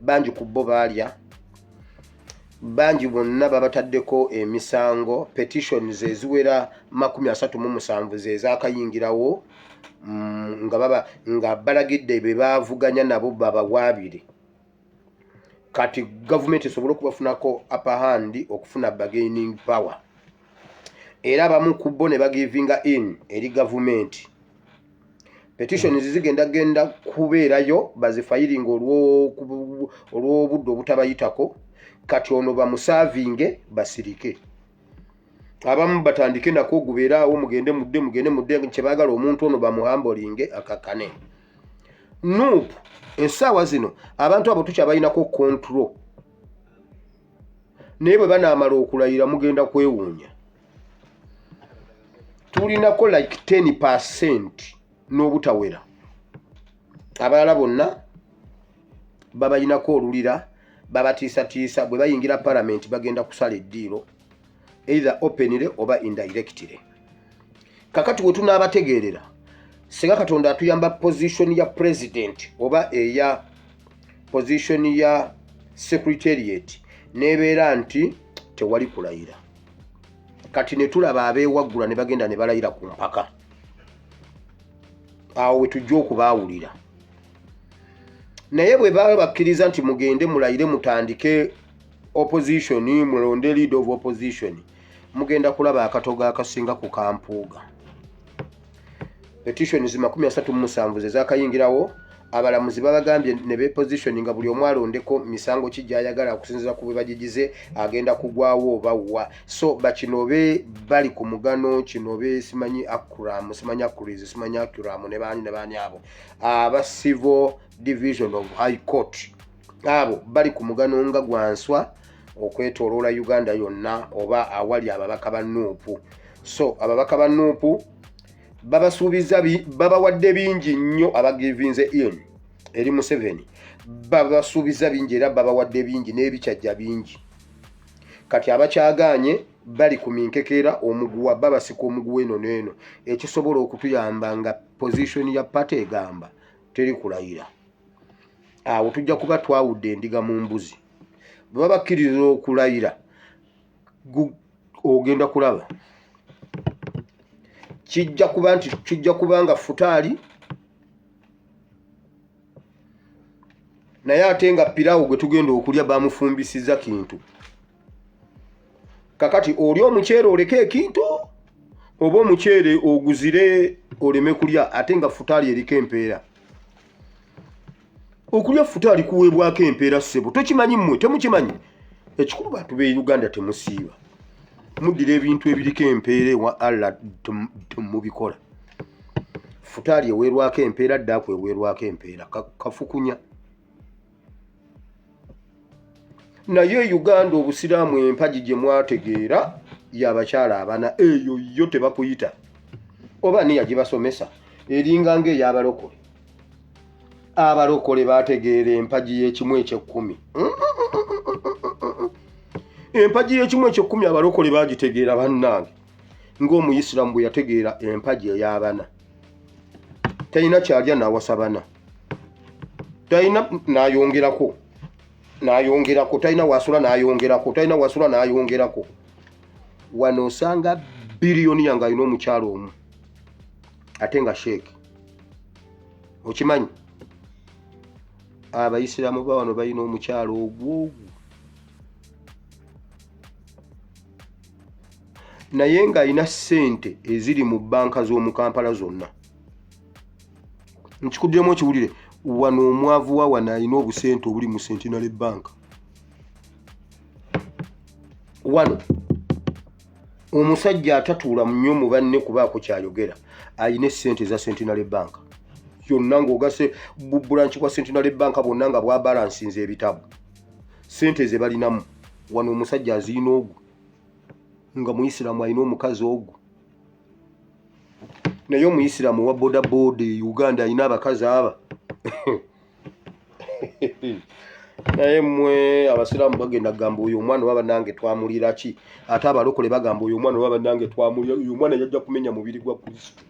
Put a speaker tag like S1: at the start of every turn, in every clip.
S1: bangi ku bo baalya bangi bonna babataddeko emisango petitions eziwera makumi asatu mu musanvu zezakayingirawo mm, nga baba nga balagidde be bavuganya nabo babawaabire kati gavumenti esobole okubafunako apahandi okufuna bargaining power era abamu ku bo ne bagivinga in eri gavumenti petitions zigenda genda kubeerayo bazifayiringa olw'obudde obutabayitako kati ono bamusaavinge basirike abamu batandike nako ogubeeraawo mugende mudde mugende mudde kyebaagala omuntu ono bamuhambolinge akakane nup esaawa zino abantu abo tukyabalinako control naye bwe banaamala okulayira mugenda kwewuunya tulinako like 10 percent n'obutawera abalala bonna babalinako olulira babatiisatiisa bwe bayingira palamenti bagenda kusala eddiiro either openire oba indirectire kakati we tunaabategeerera singa katonda atuyamba position ya president oba eya position ya secretariat n'ebeera nti tewali kulayira kati netulaba abewaggula ne bagenda ne balayira ku mpaka awo wetujja okubaawulira naye bwe baba bakkiriza nti mugende mulayire mutandike opposition mulonde lead of opposition mugenda kulaba akatogo akasinga ku kampuuga petitions makumi asatu mu musanvu ze zakayingirawo abalamuzi babagambye ne beposition nga buli omu alondeko misango ki gyayagala okusinziza ku bwe bagigize agenda kugwawo oba wa so bakinobe bali ku mugano kinobe simanyi akuram simanyi akuriz simanyi akuram ne baani ne baani abo aba civil division of high court abo bali ku mugano nga gwanswa okwetoloola uganda yonna oba awali ababaka ba nuupu so ababaka ba nuupu babasuubiza babawadde bingi nnyo abagivinze in eri museveni babasuubiza bingi era babawadde bingi n'ebikyajja bingi kati abakyagaanye bali ku minkekeera omuguwa babasika omuguwa eno neeno ekisobola okutuyamba nga position ya pate egamba teri kulayira awo tujja kuba twawudde endiga mu mbuzi bwe baba bakkiriza okulayira ogenda kulaba kijja kuba nti kijja kuba nga futaali naye ate nga pirawo gwe tugenda okulya bamufumbisiza kintu kakati oli omuceere oleka ekintu oba omuceere oguzire oleme kulya ate nga futaali eriko empeera okulya futa alikuweebwako empeera ssebo tokimanyi mmwe temukimanyi ekikulu bantu be uganda temusiiba muddira ebintu ebiriko empeera ewa allah mubikola futaali eweerwako empeera ddaakweweerwako empeera kafukunya ka naye e uganda obusiraamu empagi gye mwategeera yabakyala abana eyo yo tebakuyita oba niya gibasomesa eringa nga eyabalokole abalokole bategeera empagi y'ekimu ekyekkumi empagi y'ekimu ekyekkumi abalokole bagitegeera bannange ng'omuyisiraamu bwe yategeera empagi ey'abana talina kyalya nawasa bana talina nayongerako nayongerako talina wasula nayongerako talina wasula nayongerako wano osanga biliyoni yange alina omukyalo omu ate nga sheeke okimanyi abayisiraamu ba wano balina omukyalo ogwogu naye ng'alina ssente eziri mu bbanka z'omu kampala zonna nkikuddemu okiwulire wano omwavu wa wano alina obusente obuli mu centenary bank wano omusajja atatuula munyo mu banne kubaako kyayogera alina esente eza centenary bank yonna ngaogase bubulanki bwa centenary bank bwonna nga bwabalansinza ebitabo sente ze balinamu wano omusajja aziina ogwo nga muisiramu alina omukazi ogwo naye omuyisiraamu wa bodaboda e uganda alina abakazi aba naye mwe abasiraamu bagenda kugamba oyo omwana oba banange twamulira ki ate abalokole bagamba oyo omwana oba banange twamulira oyo omwana yajja kumenya mubiri gwa kristo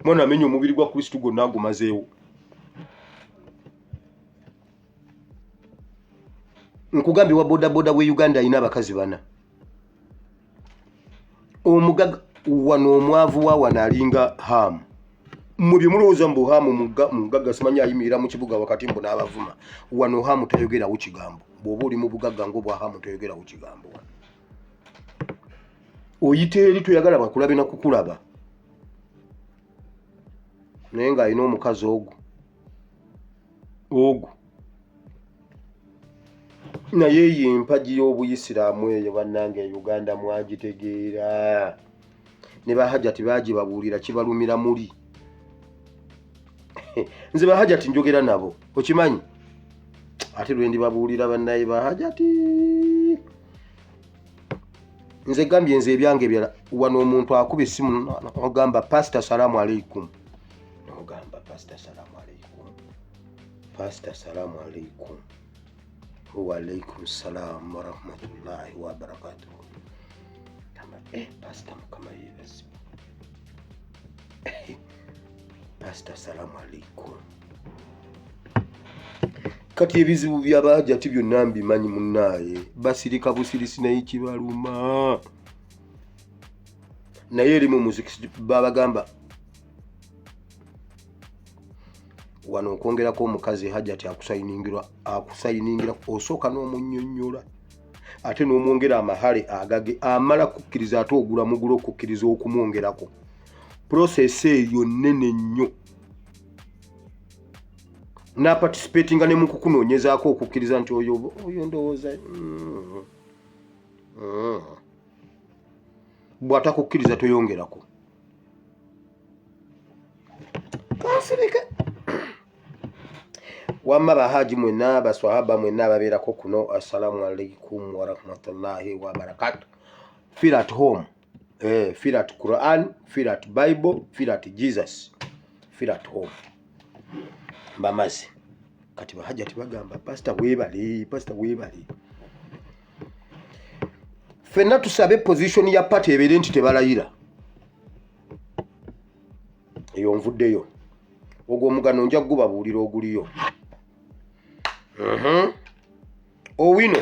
S1: omwana amenya omubiri gwa kristo gwonna agumazeewo nkugambye wa bodaboda we uganda alina abakazi bana omugaga wano omwavu wa wano alinga hamu mubye mulowooza mbu hamu mugaga simanyi ayimirira mu kibuga wakati mbu n'abavuma wano hamu tayogerawo kigambo bw'oba oli mu bugagga ngaobwa hamu tayogerawo kigambo wano oyita eri toyagala bakulabe na kukulaba naye ng'alina omukazi ogwo ogwo naye eyo empagi y'obuyisiraamu eyo bannange e uganda mwagitegeera ne bahajati bagibabuulira kibalumira muli nze bahajati njogera nabo okimanyi ate lwendi babuulira bannaye bahajati nze gambye nze ebyange byala wano omuntu akuba essimu ogamba pasita salaamu aleikum nogamba pasita salamu aleikum pasita salamu aleikum waalaikum salamu warahmatullahi wabarakatuhu gamba eh, pasita mukama yebazi eh, pasita salamu aleikum kati ebizibu byabajati byonna mbimanyi munaaye basirika busirisi naye kibaluma naye eri mu muziki babagamba wano okwongerako omukazi hajati akusayiningira akusayiningira osooka n'omunyonyola ate n'omwongera amahale agage amala kukkiriza ate ogula mugula okukkiriza okumwongerako prosesi eyo nnene nnyo naparticipatinga ne mukukunoonyezaako okukkiriza nti oyo oyo ndowooza mm, mm. bw'atakukkiriza toyongerako twasirika wamma bahaji mwenna baswahaba mwenna ababeerako kuno assalamu alaikum warahmatullahi wabarakatu feel at home eh, feel at quran feel at bible feel at jesus feel at home mbamazi kati bahajati bagamba pasita webale pasita webale fenna tusabe position ya party ebeere nti tebalayira eyo nvuddeyo ogwo omugano nja kugubabuulira oguliyo mhm. owino